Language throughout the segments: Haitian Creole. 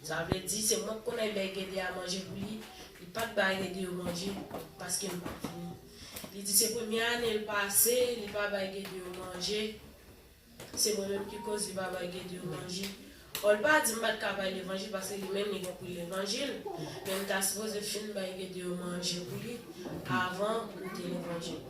Sa vle di se mwen k konnen lè Gede a manje pou li, li pa t bay Gede yo manje paske l pa t vini. Li di se premye ane l pase li pa bay Gede yo manje, se mwen menm ki koz li pa bay Gede yo manje. Bon l pa di m pa t ka bay levanjil paske li menm li gen pou li levanjil, men m ta sipoze fin bay Gede yo manje pou li avan m te levanjil.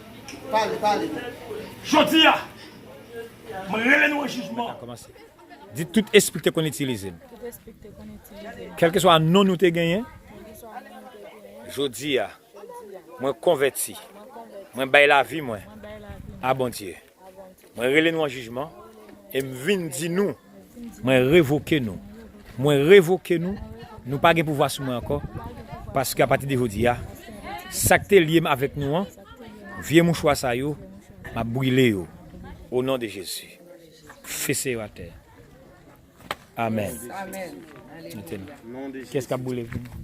Pale, pale non. Jodi a, m rele nou an jijman. Di tout espri ki te konn itilize m. Kèlkeswa non nou te genyen. Jodi a, mwen konvèti. Mwen bay lavi mwen a Bondye. Mwen rele nou an jijman e m vin di nou. Mwen revoke nou. Mwen revoke nou. Nou pa gen pouvwa sou mwen ankò, paske apati de jodi a, sa k te lye m avèk nou an, vye mouchwa sa yo, m ap brile yo. O non de Jezi. Fese yo atè. Amèn. Mete nou. Kiyès k ap brile pou nou?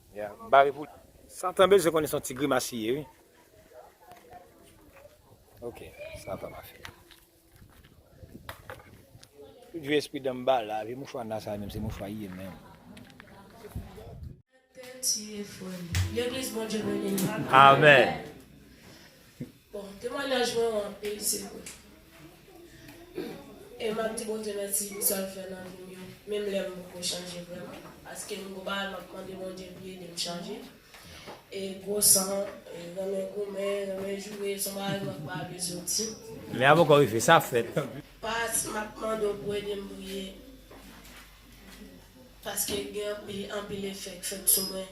Ya bare pou. Satan bezwen konnen son ti grimas li ye wi. Ok sa pa mache. Tout vye espri danm ba la, vye mouchwa na sa menm se mouchwa ye menm. Amen. Bon temwanyaj mwen ou anpil se vre humm e map di Bondye mèsi pou sal fè nan vim yo menm lè m poko chanje vrèman paske m gwo bagay map mande Bondye pou li edem chanje e gwo san e renmen goumen renmen joure son bagay mwen pa vle soti. Men a poko rive sa ap fèt. Past map mande w pou edem priye paske gen anpil anpil efè k fèt sou mwen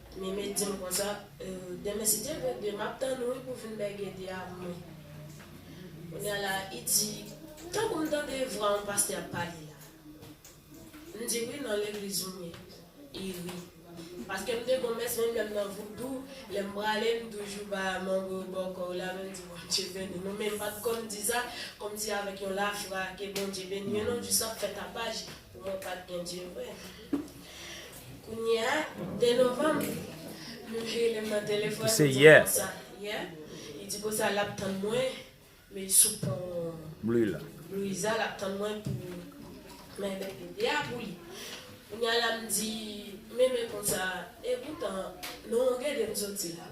Mimi dim konsa demen si Dye vle de map tann ou wi pou vin bège de ak mwen kounya la i di tankou m tande vwa on pastè ap pale la m di wi nan legliz ou ye i ri paske m de bon mès menm lèm nan voudou lèm prale m toujou ba mango yo bò kòw la menm di Bondye beni nou men m pat konn di sa kòmsi avèk yon lafwa ke Bondye beni yo non jis ap fè tapaj pou mwen pat gen Dye vre. Kounye a, 2 novanm, mnje lè m nan telefòn, m di Bosa, yè, li di Bosa l ap tann mwen, me sou pon. Bluiza, l ap tann mwen pou mwen met bebe a pou li. Kounye a la m di, me me konsa, epoutan, non, gade m soti la.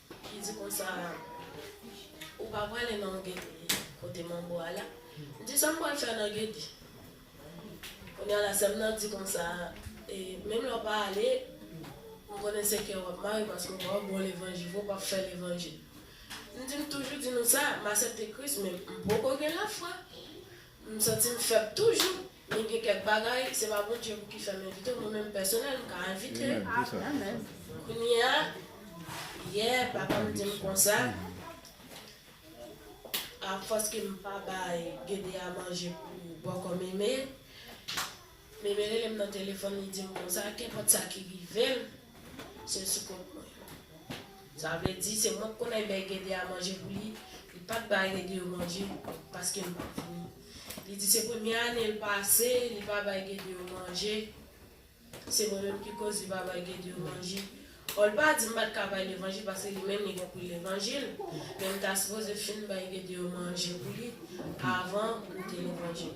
Li di konsa, Ou pa prale nan Gedi kote manbo a la? M di, Sa m pral fè nan Gedi? Kounye a la, sè m nan di konsa, E, menm lè w pa ale, m konnen se kè w ap mare paske w pa wè bon levanjil vre, w pap fè levanjil. M di, M toujou di nou sa, m asepte Kris, men m poko gen lafwa. M santi m fèb toujou. Men gen kèk bagay, se pa Bondye pou ki fè m envite w, mwen menm pèsonèl m ka envite w. Kounye a, yè papa m di m konsa, afòs ke m pa bay Gedeya manje pou bòkò Meme, Meme rele m nan telefòn li di m konsa, kenpòt sa ki rive m, Sèl sou kont mwen. Sa vle di se mwen k konnen bay Gede a manje pou li, li pat bay Gede yo manje paske m pat vini. Li di se premye ane l pase li pa bay Gede yo manje, se mwen menm ki koz li pa bay Gede yo manje. Pòl pa di m pat ka bay levanjil paske li menm li konprann levanjil, men m ta sipoze fin bay Gede yo manje pou li avan m goute levanjil.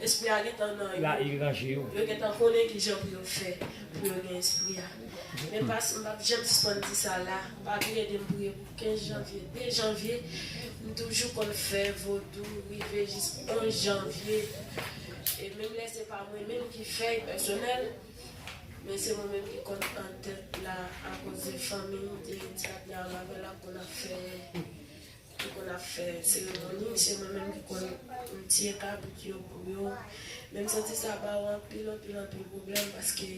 Espri a gentan nan yo. La e ranje yo. Yo gentan konnen ki jan pou yo fè pou yo gen Espri a. Men pas, m pap janm sispann di sa la, pa vin ede m priye pou 15 janvye, 2 janvye, m toujou konn fè vodou rive jis 11 janvye, e menm lè se pa mwen menm ki fèy pèsonèl, men se mwen menm ki konn an tèt la akoz de fanmi m te di ak Yah Marvella pou n ap fè ki konn ap fè seremoni se mwen menm ki konn mtye kabrit yo pou yo men msanti sa ba ou anpil anpil anpil pwoblèm paske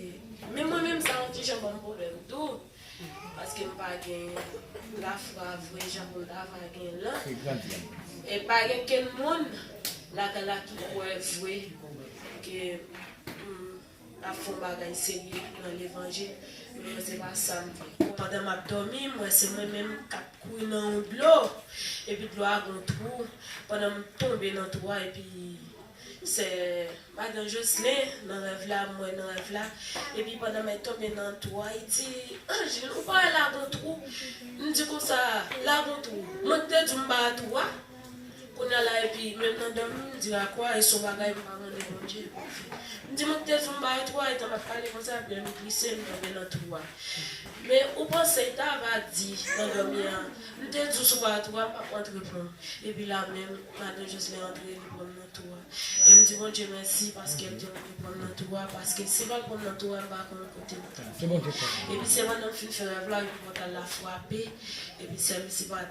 menm mwen menm sa yon ti jan banm pwoblèm tou paske mpa gen lafwa vre jan poum ta va gen lan e pa gen kenn moun lakay la ki kwè vre ke m Pa fon bagay serye nan levanjil men se pa sam vle. Pandan map dòmi m wè se mwen menm kap kouri nan yon dlo epi dlo a gon twou pandan m tonbe nan twou a epi sè madan joslin nan rèv la m wè nan rèv la epi pandan mèt tonbe nan twou a li di angeline ou pa wè la gon twou m di konsa la gon twou mwen ki te diw m pa wè twou a. Kounya la epi menm nan dòmi m di lakwa e son bagay m pa mande Bondye pou l fè. M di mwen kite Zumba yo twò etan m ap pale konsa epi lè m glise m tonbe nan twou a. Men ou panse l ta va di nan dòmi a m te di w sou ba twou a m p ap rantre pran w. Epi la menm madan Joslè antre li pran m nan twou a. E m di Bondye mèsi paske l te rantre pran m nan twou a paske si l pa t pran m nan twou a m pa konnen kote m t ap. Epi se pandan m fin fè rèv la yon pòtal la frape epi sèm si pa.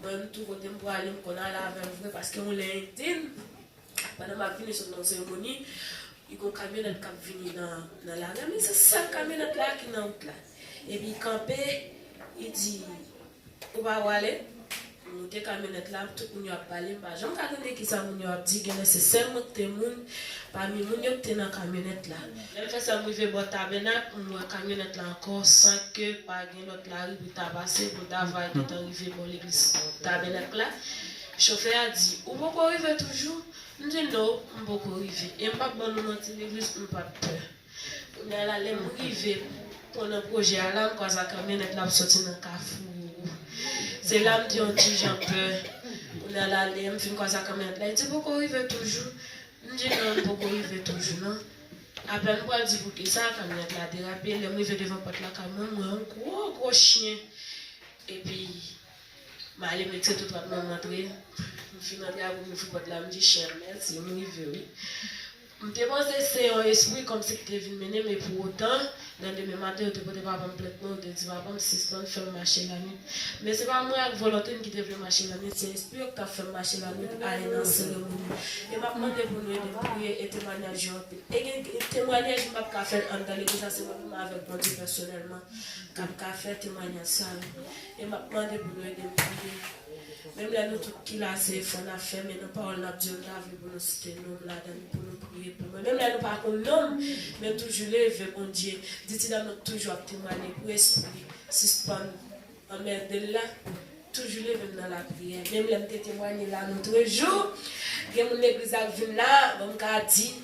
Mwen menm tou kotem prale m konn ale avèl vre paske yon lè Indien pandan map vini sot nan seremoni li gon kamyonèt kap vini nan lari an men se sèl kamyonèt la ki nan wout la epi li kanpe li di ou pa prale m moute kamyonèt la tout moun yo ap pale m pa janm ka tande kisa moun yo ap di genlè se sèl mwen kite moun pami moun yo kite nan kamyonèt la lèm fè sa m rive bò tabènak m wè kamyonèt la ankò san ke pa Yon lòt lari pou ta pase, pou ta va epi tan rive bò legliz Tabènak la. Chofè a di, Ou poko rive toujou? M di, No, m poko rive. E m p ap ban nou manti legliz, m p ap pè. Kounye a la, lè m rive pon nan pwojè a la, m kwaza kamyonèt la ap soti nan kafou Roro. Se la m te yon ti jan pè. Kounye a la, lè m fin kwaza kamyonèt la, li di, Ou poko rive toujou? M di, No, m poko rive toujou non. Aprè nou pral di poukisa kamyonèt la derape, lèm rive devan pòt lakay mwen, m wè yon gwo gwo chyen epi m ale mete tout wòt mwen m antre, m fin antre aprè m ouvri pòt la m di chyen an mèsi m rive wi. M te panse se yon espri kòmsi ki te vin mennen m e pou otan Nan demen maten yo te pote papa m plent mwen, yo te di papa m sispann fè m mache lannwit. Men se pa mwen ak volonte m ki te vle mache lannwit, se espri yo ki t ap fè m mache lannwit a e nan seremoni. E m ap mande pou nou ede m priye e temwanyaj yo anpil. E gen temwanyaj m p ap ka fè l anndan legliz la, se mwen menm avèk Bondye pèsonèlman k ap ka fè temwanyaj sa yo. E m ap mande pou nou ede m priye. Menm lè nou tout ki la se efò n ap fè, men nan pawòl n ap di yo, n ta vle pou nou site non m ladan l, pou nou priye pou mwen. Menm lè nou pa konn non m, men toujou leve Bondye, di ti dam nan k toujou ap temwanye pou espri sispann anmède l la, toujou leve m nan lapriyè. Menm lè m te temwanye l anotrejou, gen moun legliz la k vin la, bon m ka di.